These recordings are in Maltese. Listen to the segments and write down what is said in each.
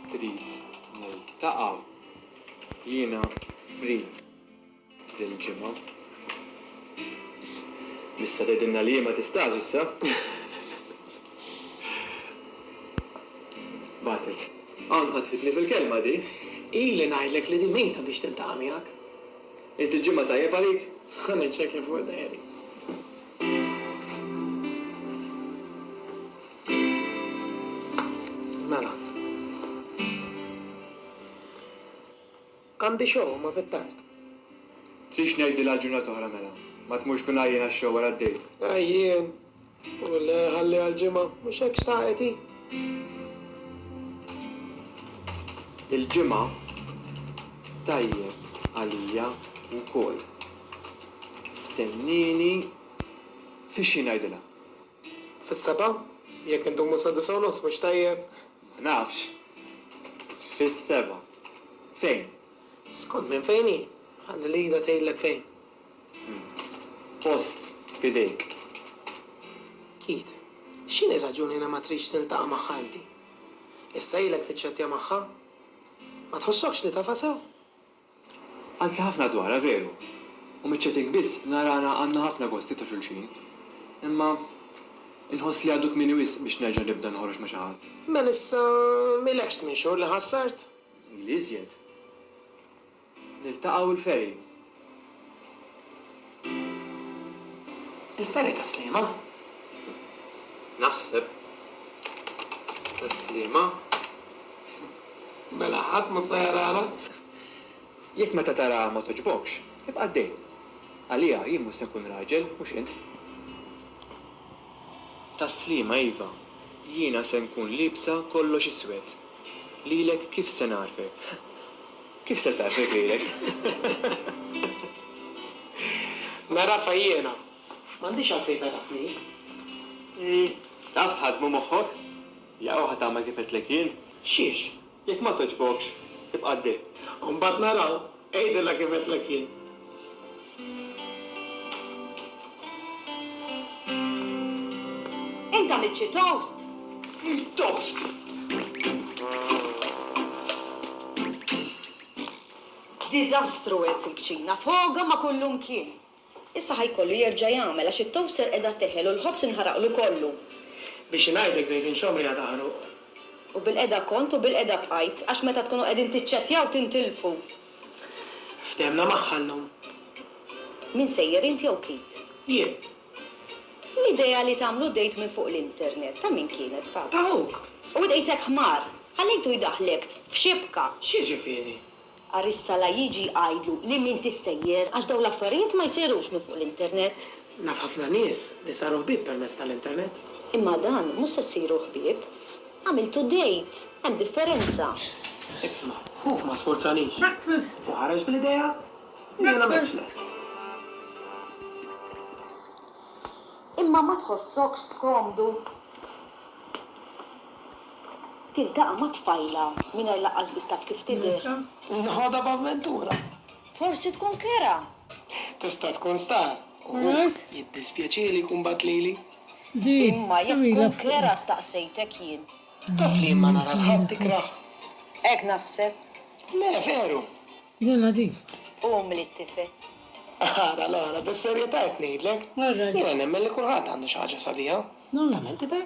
trid niltaqa' jiena free dil-ġimgħa. Tista' tgħidilna li ma tistax issa? Bagħtet. Hawn ħatfitni fil-kelma di. Ili ngħidlek li di mejta biex tiltaqa' miegħek. Int il-ġimgħa tajjeb għalik? Ħa niċċekkja fuq id-diary. Mela. Għandi show imma fit-tard. Tridx ngħidilha għal ġurnata oħra mela? Ma tmurx tkun għajjien għax-show wara d-dejt. Għajjien? U le, ħalliha għal ġimgħa. Mhux hekk xtaqet hi? Il-Ġimgħa tajjeb għalija wkoll. Stennieni fix-xi ngħidilha. Fis-sebgħa? Jekk indumu sa disa' u nofs mhux tajjeb? Ma nafx. Fis-sebgħa. Fejn? Skont minn fejn hi. Ħalli Lida tgħidlek fejn. Post f'idejk. Keith, x'inhi r-raġuni li ma tridx tiltaqa' magħha inti? Issa ilek tiċċettja magħha? Ma tħossokx li tafha sew? Għadtli ħafna dwarha veru, u miċ-chatting biss narana għandna ħafna gosti ta' xulxin. Imma inħoss li għadu kmieni wisq biex nerġa' nibda noħroġ ma' xi ħadd. Mela issa m'ilekx tmien xhur li ħassart? Ili iżjed. Niltaqgħu l-ferry. Il-fergħa ta' Sliema? Naħseb. Ta' Sliema. Mela ħadd mhux se jarana? Jekk meta taraha ma togħġbokx, ibqa' għaddej. Għaliha jien mhux se nkun raġel, mhux int. Ta' Sliema iva, jiena se nkun liebsa kollox iswed. Lilek kif se nagħrfek? Kif se tgħadd irġielek? Nagħrafha jiena. M'għandix għalfejn tagħrafni. Hi, taf tħaddem u moħħok? Jew ħa tagħmel kif għedtlek jien? Xiex? Jekk ma togħġbokx, tibqa' ddi. U mbagħad naraw. Għidilha kif għedtlek jien. Int għamilt xi toast? Toast! Diżastru hemm fil-kċina, foga ma' kullumkien! Issa ħa jkollu jerġa' jagħmel għax it-toaster qiegħda teħel u l-ħobż inħaraqlu kollu. Biex ingħidlek żejtin x'għomri għad aħruq. U bilqiegħda kont u bilqiegħda bqajt, għax meta tkunu qegħdin tiċċettjaw tintilfu. Ftehemna magħha llum. Min sejjer int jew Keith? Jien. L-idea li tagħmlu dejt minn fuq l-internet ta' min kienet, Fabs? Ta' ħuk. U int qisek ħmar! Ħallejtu jdaħħlek f'xibka! X'jiġifieri? Għarissa la jiġi jgħidlu li m'intix sejjer għax dawn l-affarijiet ma jsirux minn fuq l-internet. Naf ħafna nies li saru ħbieb permezz tal-internet. Imma dan mhux se ssiru ħbieb. Għamiltu date! Hemm differenza. Isma', ħuk ma sfurzanix. Hu ħareġ bl-idea u jien għamilt x'lek. Imma ma tħossokx skomdu? Tiltaqa' mat-tfajla mingħajr lanqas biss taf kif tidher. Noħodha b'avventura. Forsi tkun kera Tista' tkun star u hook. Jiddispjaċieli jkun bagħat lili. Imma jekk tkun Clara staqsejtek jien. Taf li jien ma nara 'l ħadd ikrah. Hekk naħseb. Le, veru. Jien nadif. U umli t-tifel. Ara l-oħra, bis-serjetà qed ngħidlek. Jiena nemmen li kulħadd għandu xi ħaġa sabiħa. Tant tidher.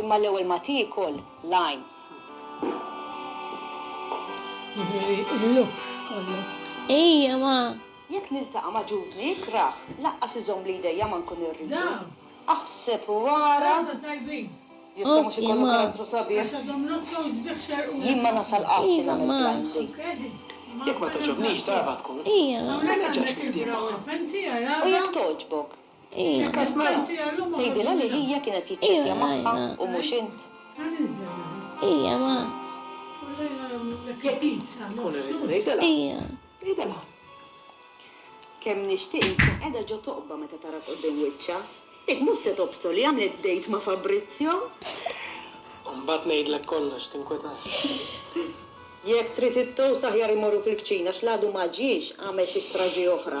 Imma l-ewwel ma tiekol l-għajn. Jidhirli l-looks kollu. Ejja ma. Jekk niltaqa' ma' ġuvni ikrah, laqqas iżommli jdejja ma nkun irridu. Aħseb u ara. Jista' mhux ikollu karattru sabiħ? Jien ma nasal qatt li nagħmel blind date. Jekk ma togħġobnix darba tkun, ma nerġax nifdih magħha. U jekk togħġbok? Fil-każ mela, tgħidilha li hija kienet jiċċettja magħha u mhux int? Hija ma. Jekk int sa nofs u. Tgħidilha. Hija. Tgħidilha. Kemm nixtieq inkun qiegħda ġo toqba meta tarak quddiem wiċċha. Dik mhux se tobsor li għamlet date ma' Fabrizio. U mbagħad ngħidlek kollox, tinkwetax. Jekk trid it-toast aħjar immorru fil-kċina għax l għadu ma ġiex għamel xi straġi oħra.